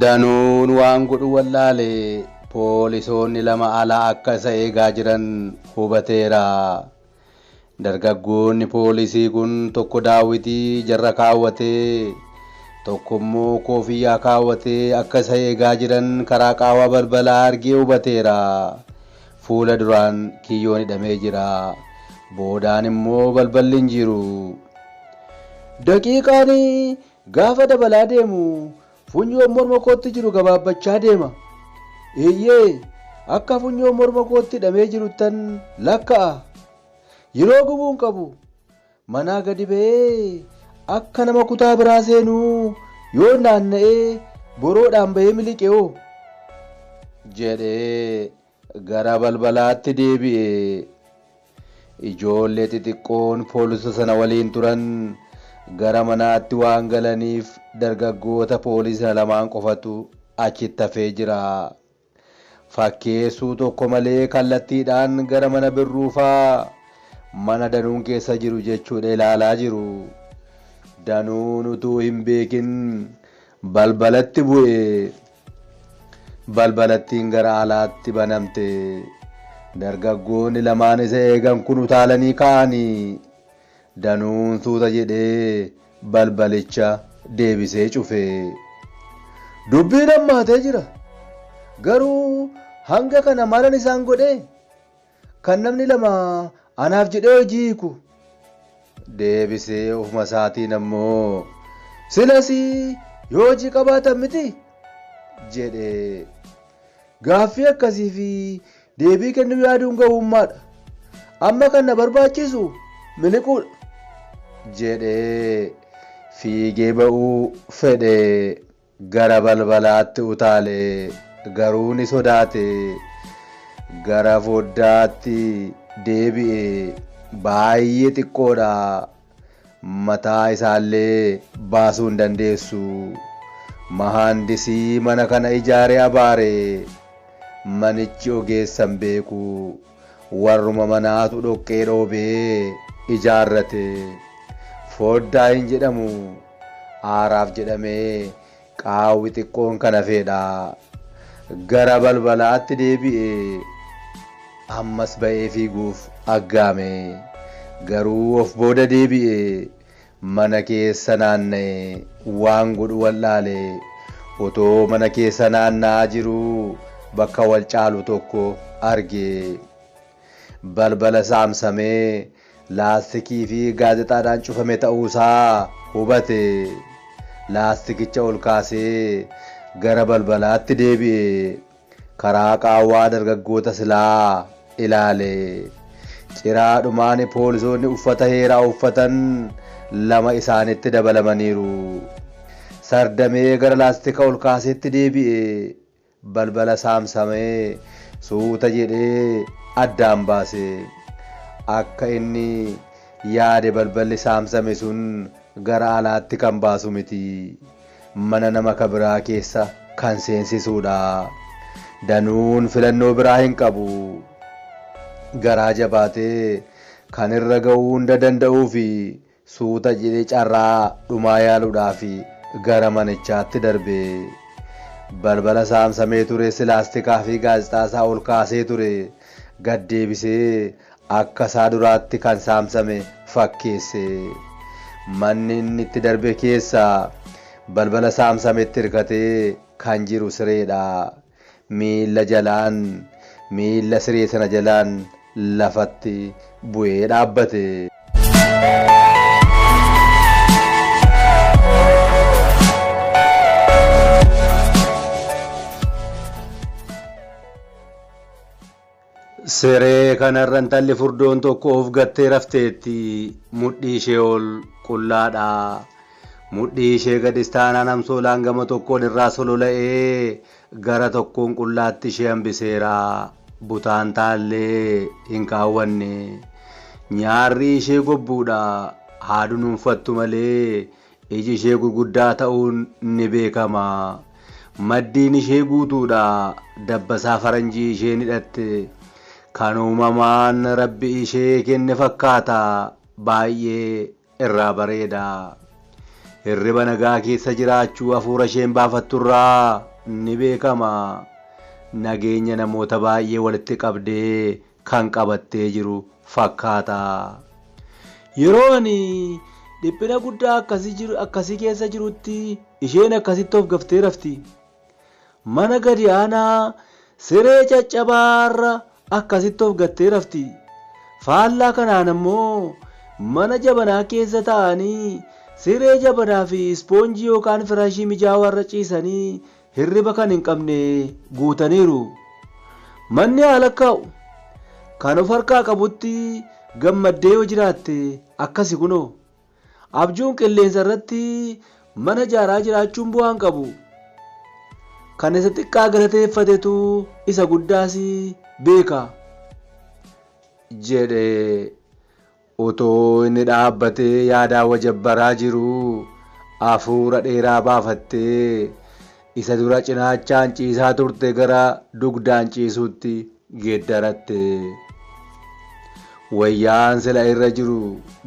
Danuun waan godhu wallaale poolisoonni lama alaa akka isa eegaa jiran hubateera. Dargaggoonni poolisii kun tokko daawwitii ijarra kaawwatee, tokko immoo koofiyyaa kaawwatee akka isa eegaa jiran karaa qaawwa balbalaa argee hubateera. Fuula duraan kiyyoon hidhamee jira. Boodaan immoo balballi hin jiru. Daqiiqaan gaafa dabalaa deemu Funyoon morma kootti jiru gabaabbachaa deema. Eeyyee, akka funyoon morma kootti hidhamee jiruttan lakka'a. Yeroo gubuun qabu manaa gadi ba'ee akka nama kutaa biraa seenuu yoon naanna'ee boroodhaan ba'ee miliqe hoo? jedhe. Gara balbalaatti deebi'e. Ijoollee xixiqqoon poolisa sana waliin turan gara manaatti waan galaniif dargaggoota poolisa lamaan qofatu achitti hafee jira. Fakkeessuu tokko malee kallattiidhaan gara mana Birruufaa mana Danuun keessa jiru jechuudha ilaalaa jiru. Danuun utuu hin beekin balbalatti bu'e. Balbalattiin gara alaatti banamte. Dargaggoonni lamaan isa eegan kun utaalanii ka'anii. Danuun suuta jedhee balbalicha deebisee cufe. Dubbiin hammaatee jira. Garuu hanga kana malan isaan godhee? Kan namni lama anaaf jedhee hojii hiiku. Deebisee ofuma isaatiin ammoo silas yoo hojii qabaatan miti jedhe. Gaaffii akkasii fi deebii kennuu yaaduun gowwummaadha. Amma kan na barbaachisu miliquudha. jedhee fiigee ba'uu fedhe. Gara balbalaatti utaale, garuu ni sodaate. Gara foddaatti deebi'e, baay'ee xiqqoodha. Mataa isaallee baasuu hin dandeessu. Mahaandisii mana kana ijaare abaare. Manichi ogeessa hin beeku. Warruma manaatu dhoqqee dhoobee ijaarrate. Foddaa hin jedhamu. Aaraaf jedhamee qaawwi xiqqoon kan hafeedha. Gara balbalaatti deebi'ee ammas ba'ee fiiguuf aggaame. Garuu of booda deebi'ee mana keessa naanna'e waan godhu wal'aale. Otoo mana keessa naanna'aa jiruu bakka wal caalu tokko arge. Balbala saamsame laastikii fi gaazexaadhaan cufame ta'uu isaa hubate. Laastikicha ol kaasee gara balbalaatti deebi'e. Karaa qaawwaa dargaggoota silaa ilaale. Ciraadhumaan poolisoonni uffata heeraa uffatan lama isaanitti dabalamaniiru. Sardamee gara laastika ol kaaseetti deebi'e. Balbala saamsame suuta jedhee addaan baase. Akka inni yaade balballi saamsame sun gara alaatti kan baasu miti. Mana nama ka biraa keessa kan seensisuudha. Danuun filannoo biraa hin qabu. Garaa jabaatee kan irra ga'uu hunda danda'uufi. Suuta jedhee carraa dhumaa yaaluudhaaf gara manichaatti darbe. Balbala saamsamee ture silaastikaa fi gaazexaa isaa ol kaasee ture. Gad deebisee akka isaa duraatti kan saamsame fakkeesse. Manni inni itti darbe keessa balbala saamsametti hirkatee kan jiru sireedha. miilla jalaan miilla siree sana jalaan lafatti bu'ee dhaabbate. Siree kanarra intalli furdoon tokko of gattee rafteetti. Mudhii ishee ol qullaadha. Mudhii ishee gadis taanaan amsoolaan gama tokkoon irraa solola'ee gara tokkoon qullaatti ishee hambiseera. Butaan taallee hin kaawwanne. Nyaarrii ishee gobbuudha. Haa dunuunfattu malee Iji ishee gurguddaa ta'uun ni beekama. Maddiin ishee guutuudha. Dabbasaa faranjii isheen hidhatte kan uumamaan Rabbi ishee kenne fakkaata. Baay'ee irraa bareeda. Hirriba nagaa keessa jiraachuu afuura isheen baafatturraa ni beekama. Nageenya namoota baay'ee walitti qabdee kan qabattee jiru fakkaata. Yeroo ani dhiphina guddaa akkasii keessa jirutti isheen akkasitti of gaftee rafti. Mana gadi aanaa siree caccabaa irra akkasitti of gattee rafti. Faallaa kanaan ammoo mana jabanaa keessa taa'anii siree jabanaa fi ispoonjii yookaan firaashii mijaawaa irra ciisanii hirriba kan hin qabne guutaniiru. Manni haa lakkaa'u. Kan of harkaa qabutti gammaddee yoo jiraatte akkasi kunoo. Abjuun qilleensa irratti mana ijaaraa jiraachuun bu'aa hin qabu. Kan isa xiqqaa galateeffatetu isa guddaas beeka. jedhe. Utuu inni dhaabbatee yaadaa wajabbaraa jiruu afuura dheeraa baafattee isa dura cinaachaan ciisaa turte gara dugdaan ciisuutti geeddaratte. Wayyaan sila irra jiru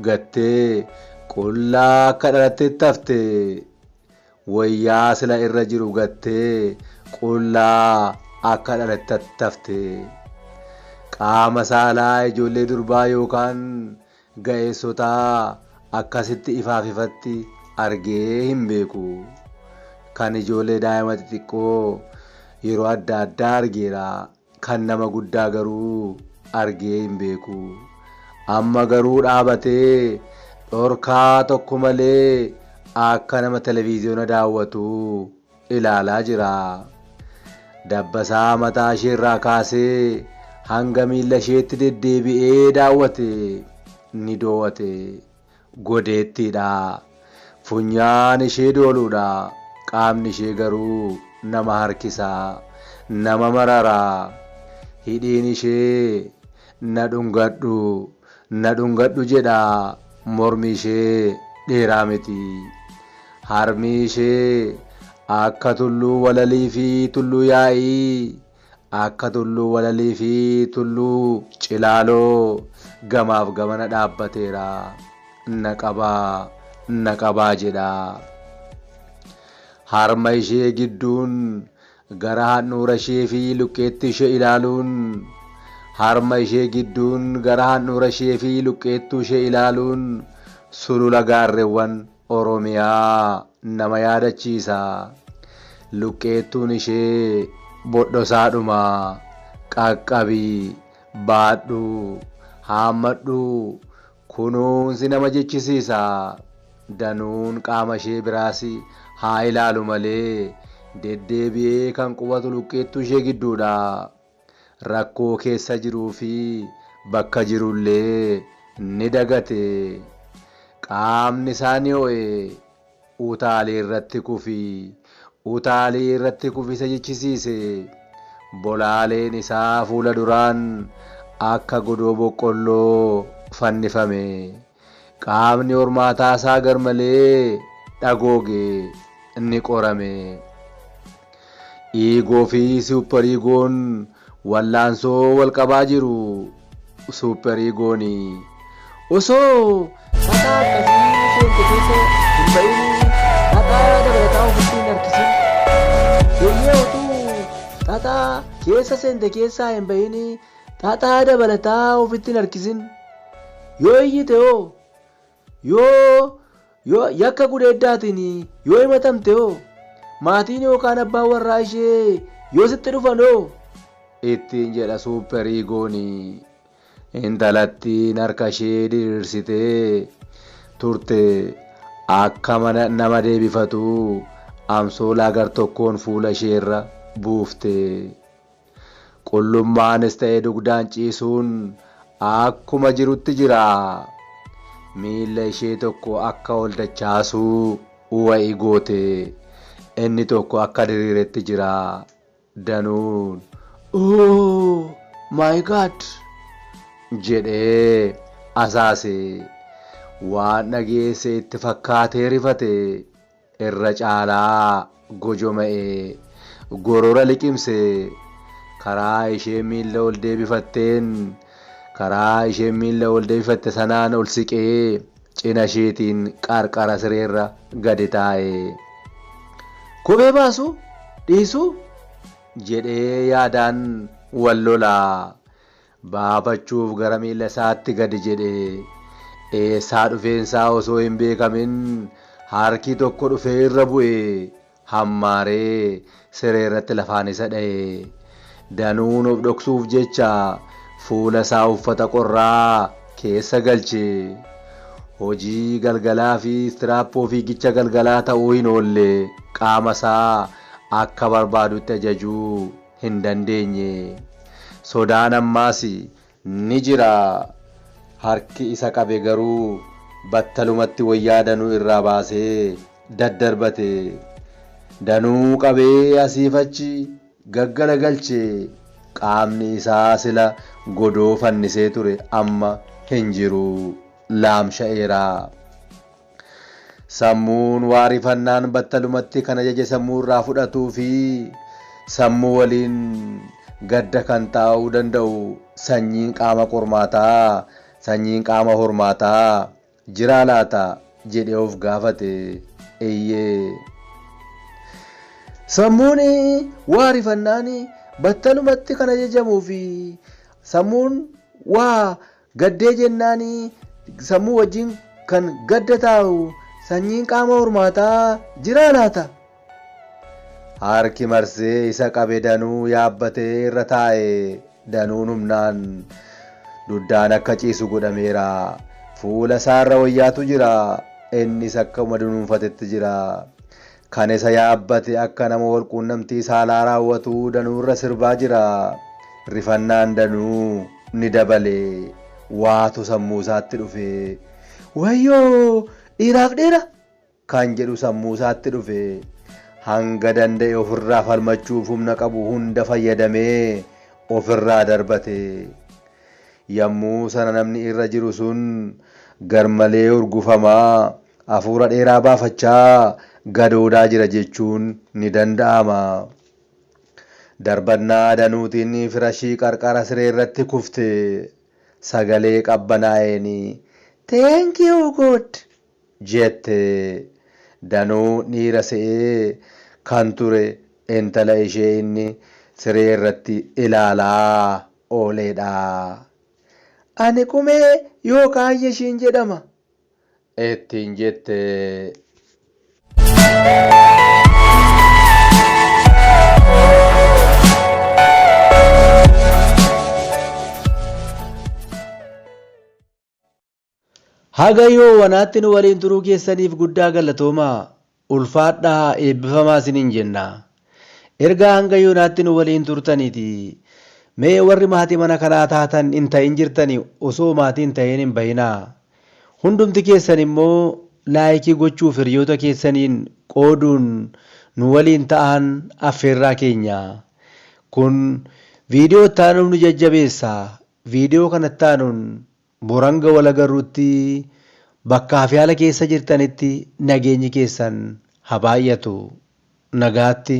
gattee qullaa akka dhalatteetti hafte. Woyyaa sila irra jiru gattee qullaa akka dhalattatti hafte. Qaama saalaa ijoollee durbaa yookaan ga'eessotaa akkasitti ifaaf ifatti argee hin beeku. Kan ijoollee daa'ima xixiqqoo yeroo adda addaa argeera. Kan nama guddaa garuu argee hin beeku. Amma garuu dhaabatee dhorkaa tokko malee akka nama televiziyoona daawwatuu ilaalaa jira. Dabbasaa mataa isheerraa kaasee hanga miilla isheetti deddeebi'ee daawwate. Ni doo'ate. Godeettii dha. Funyaan ishee dooluu dha. Qaamni ishee garuu nama harkisa. Nama marara. Hidhiin ishee Na dhungadhu, na dhungadhu jedha. Mormi ishee dheeraa miti. Harmi ishee akka tulluu walalii fi tulluu yaa'ii Akka Tulluu Walalii fi Tulluu Cilaaloo gamaaf gamana dhaabbateera. Na qabaa, na qabaa jedha. Harma ishee gidduun gara handhuura ishee fi luqqeettii ishee ilaaluun Harma ishee gidduun gara handhuura ishee fi luqqeettuu ishee ilaaluun sulula gaarrewwan Oromiyaa nama yaadachiisa. Luqqeettuun ishee bodhosaadhuma. Qaqqabi, baadhu, haammadhu, kunuunsi nama jechisiisa. Danuun qaama ishee biraas haa ilaalu malee deddeebi'ee kan qubatu luqqeettuu ishee gidduudha. Rakkoo keessa jiruu fi bakka jiru illee ni dagate. Qaamni isaa ni ho'e. Utaalii irratti kufi. Utaalii irratti kufi isa jechisiise. Bolaaleen isaa fuula duraan akka godoo boqqolloo fannifame. Qaamni hormaataa isaa garmalee dhagooge ni qorame. Iigoo fi suupperiigoon wallaansoo wal qabaa jiru. Suupperiigoon osoo xaxaa akkasii seente keessa hin ba'in xaxaa dabalataa ofitti hin harkisin. Eeyyee utuu xaxaa keessa seente keessaa hin ba'in Xaxaa dabalataa ofitti hin harkisin. Yoo iyyite hoo? Yoo, yoo yakka gudeeddaatiin yoo himatamte hoo? Maatiin yookaan abbaan warraa ishee yoo sitti dhufan hoo? ittiin jedha Suupper Iigoon. Intalattiin harka ishee diriirsitee turte akka mana nama deebifatu amsoolaa gar tokkoon fuula ishee irra buufte. Qullummaanis ta'e dugdaan ciisuun akkuma jirutti jira. Miila ishee tokko akka ol dachaasuu wayi goote. Inni tokko akka diriiretti jira. Danuun Oh my God! jedhee asaase. Waan dhageesse itti fakkaatee rifate. irra caalaa gojoma'ee, gorora liqimsee, karaa isheen miilla ol deebifatteen, karaa isheen miilla ol deebifatte sanaan ol siqee, cina isheetiin qarqara sireerra gadi taa'e. Kophee baasuu? Dhiisuu? jedhee yaadaan wal lola. baafachuuf gara miilla isaatti gadi jedhe. Eessaa dhufeen isaa osoo hin beekamin harki tokko dhufee irra bu'e. Hammaaree siree irratti lafaan isa dha'e. Danuun of dhoksuuf jecha fuula isaa uffata qorraa keessa galche. Hojii galgalaa fi istiraappoo fiigicha galgalaa ta'uu hin oolle qaama isaa akka barbaadutti ajajuu. hin dandeenye. Sodaan ammaas ni jira. Harki isa qabe garuu battalumatti wayyaa Danuu irraa baasee daddarbate. Danuu qabee asiif achi gaggalagalche. Qaamni isaa sila godoo fannisee ture amma hin jiru. Laamsha'eera. Sammuun waa rifannaan battalumatti kan ajaje sammuu irraa fudhatuu fi sammuu waliin gadda kan taa'uu danda'u sanyiin qaama qormaataa, sanyiin qaama hormaataa, jiraa laata? jedhee of gaafate. Eeyyee. Sammuun waa rifannaan battalumatti kan ajajamuu fi sammuun waa Gaddee jennaan sammuu wajjin kan gadda taa'u sanyiin qaama hormaataa jiraa laata? Harki marsee isa qabe danuu yaabbatee irra taa'e. Danuun humnaan duddaan akka ciisu godhameera. Fuula isaarra wayyaatu jira. Innis akkuma dunuunfatetti jira. Kan isa yaabbate akka nama walquunnamtii saalaa raawwatuu Danuu irra sirbaa jira. Rifannaan Danuu ni dabale. Waatu sammuu isaatti dhufe. Wayyoo! Dhiiraaf dhiira! Kan jedhu sammuu isaatti dhufe. Hanga danda'e ofirraa falmachuuf humna qabu hunda fayyadamee ofirraa darbate. Yammuu sana namni irra jiru sun garmalee urgufamaa Afuura dheeraa baafachaa gadoodaa jira jechuun ni danda'ama. Darbannaa adanuutiin firashii qarqara sireerratti kufte sagalee qabbanaa'een Thank you God! jette. Danuu dhiira se'ee kan ture intala ishee inni siree irratti ilaalaa ooleedha. Ani Qumee yookaan Yeshiin jedhama. ittiin jette. Haga yoonaatti nu waliin turuu keessaniif guddaa galatoomaa. Ulfaadhaa eebbifamaa isiniin jenna. Ergaa hanga yoonaatti nu waliin turtaniiti. Mee warri maatii mana kanaa taatan hin ta'in jirtani osoo maatii hin ta'in hin bahinaa. Hundumti keessan immoo laayikii gochuuf hiriyoota keessaniin qooduun nu waliin ta'aan affeerraa keenya. Kun viidiyoo itti aanuuf nu jajjabeessa. Viidiyoo kan itti aanuun Bor hanga wal agarrutti bakkaa fi haala keessa jirtanitti nageenyi keessan ha baay'atu. Nagaatti.